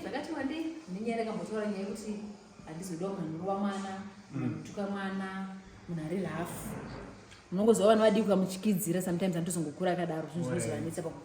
zvakati wandei nenyaya yakambotaura nyaya yekuti handizodawo manhuru wamwana mutuka mm. mwana munhu ari lafu munongoziva vanhu vadii kukamuchikidzira sometimes anotozongokura akadaro zvinhu zvinozovanetsa paku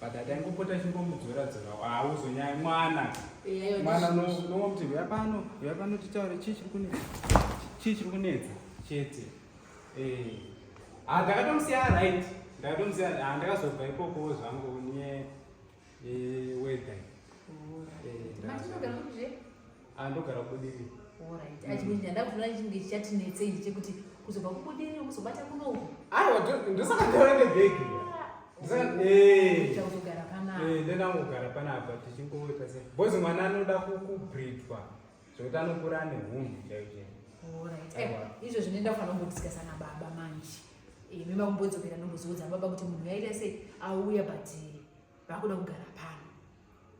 but ataingopota chingomudzora dzora hauzonyaya mwana mwana unowa kuti huya pano huya pano titaure chii chiri kunetsa chii chiri kunetsa chete eh. ah, ndakatomusiya right ndakatomusiya ah, ndakazobva ikoko zvangu nye eh, weather eh, andogara kudini Alright. Mm. Achimwe ndanda kuona chinge chichati netse ichi chekuti kuzobva kubudiri kuzobata kunoku. Aiwa ndosaka ndaona nebhegi. Ndosaka ah, eh. Ndakuzogara pana. Eh, ndenda kugara pana apa tichingowe pese. Boys mwana anoda kukubridwa. Zvekuti anokura ane hunhu chaicho. Alright. Eh, izvo zvinoenda kufanira kungodiscussa na baba manje. Eh, mimi makumbodzokera ndombozoudza baba kuti munhu yaita sei auya but eh, vakuda kugara pana.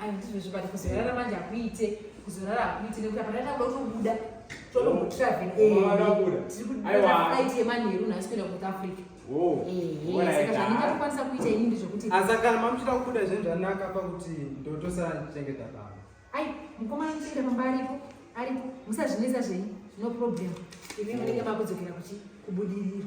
andizvezvibati kuzorara manje hakuite kuzorara hakuite nekuti apa ndatakuda kutobuda totombotravel aiti yemanheru nhasi kuenda kuth africa saka zvandingatokwanisa kuita ini ndezvekuti asa kana mamuchida kubuda zvinhu zvanaka pakuti ndotosachengeta pano ai mukomana muchengeta pamba aripo aripo musazvinetsa zvenyu no problem imi munenge makudzokera kuchi kubudirira